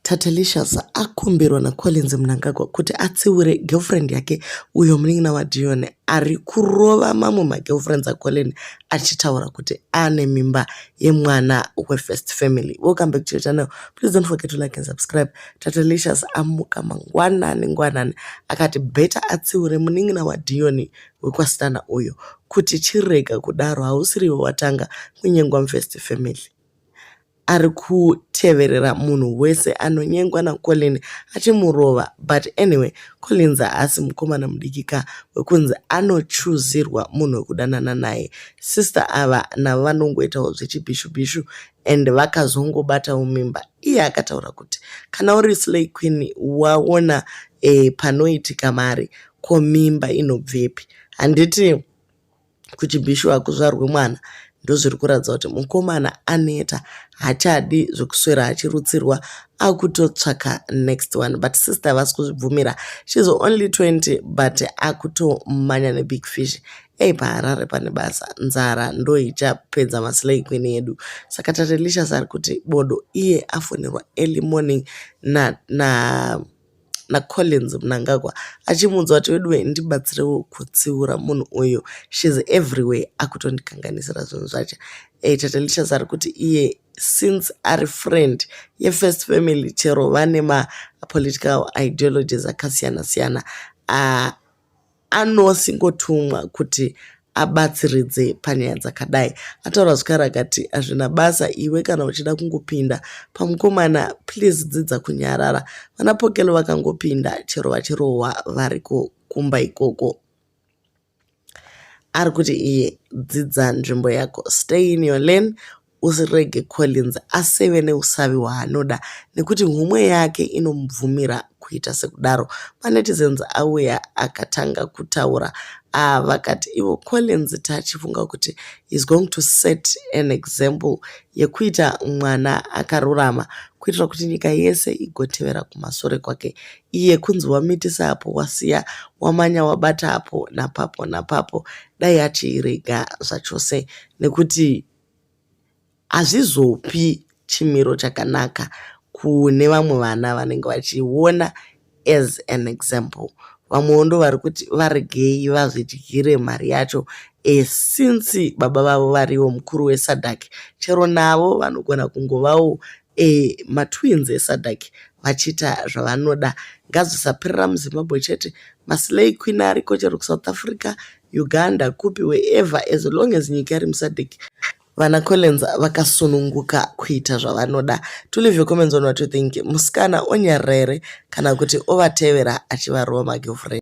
Tatelicious akumbirwa naCollins Mnangagwa kuti atsiure girlfriend yake uyo munin'ina waDion ari kurova mamwe magirlfriends aCollin achitaura kuti ane mimba yemwana wefirst family. Welcome back to your channel. Please don't forget to like and subscribe. Tatelicious amuka mangwanani ngwanani akati better atsiure munin'ina waDion wekwaStana uyo kuti chirega kudaro hausiriwe watanga kunyengwa mufirst family. ari kuteverera munhu wese anonyengwa naColin achimurova but anyway Collins haasi mukomana mudiki ka wekunzi anochuzirwa munhu wekudanana naye sister ava navo vanongoitawo zvechibhishubhishu and vakazongobatawo mimba iye akataura kuti kana uri slay queen waona eh, panoitika mari ko mimba inobvepi handiti kuchibhishu hakuzvarwe mwana ndozviri kuratidza kuti mukomana aneta hachadi zvekuswera achirutsirwa akutotsvaka next one but sister havasi kuzvibvumira shes only 20 but akutomanya nebig fish ei paharare pane basa nzara ndoichapedza maslay queen yedu saka tatelisha sari kuti bodo iye afonirwa early morning na, na naCollins Mnangagwa achimuudza kuti veduwe ndibatsirewo kutsiura munhu uyu she's everywhere akutondikanganisira zvinhu zvacho e, Tatelicious ari kuti iye since ari friend yefirst family chero vane mapolitical ideologies akasiyana siyana uh, anosingotumwa kuti abatsiridze panyaya dzakadai ataura zvikara akati hazvina basa iwe kana uchida kungopinda pamukomana please dzidza kunyarara vana pokelo vakangopinda chero vachirohwa variko kumba ikoko ari kuti iye dzidza nzvimbo yako stay in your lane Usirege Collins aseve neusavi hwaanoda nekuti nhumwe yake inomubvumira kuita sekudaro. MaNetizens auya akatanga kutaura ava ah, vakati ivo Collins tachifunga kuti he's going to set an example yekuita mwana akarurama kuitira kuti nyika yese igotevera kumasure kwake iye kunzi wamitisa apo wasiya wamanya wabata apo napapo napapo dai achiirega zvachose nekuti hazvizopi chimiro chakanaka kune vamwe vana vanenge vachiona as an example vamwewo ndo vari kuti varegei vazvidyire mari yacho e, since baba vavo varivo mukuru wesadak chero navo vanogona kungovawo Eeh ma twins e Sadc vachiita zvavanoda ngazvisapirira mu Zimbabwe chete ma slay queen ariko chero ku South Africa, Uganda kupi wherever as long as nyika iri mu Sadc vana Collins vakasununguka kuita zvavanoda. To leave your comments on what you think. Musikana onyarira here kana kuti ovatevera achivarova ma girlfriend.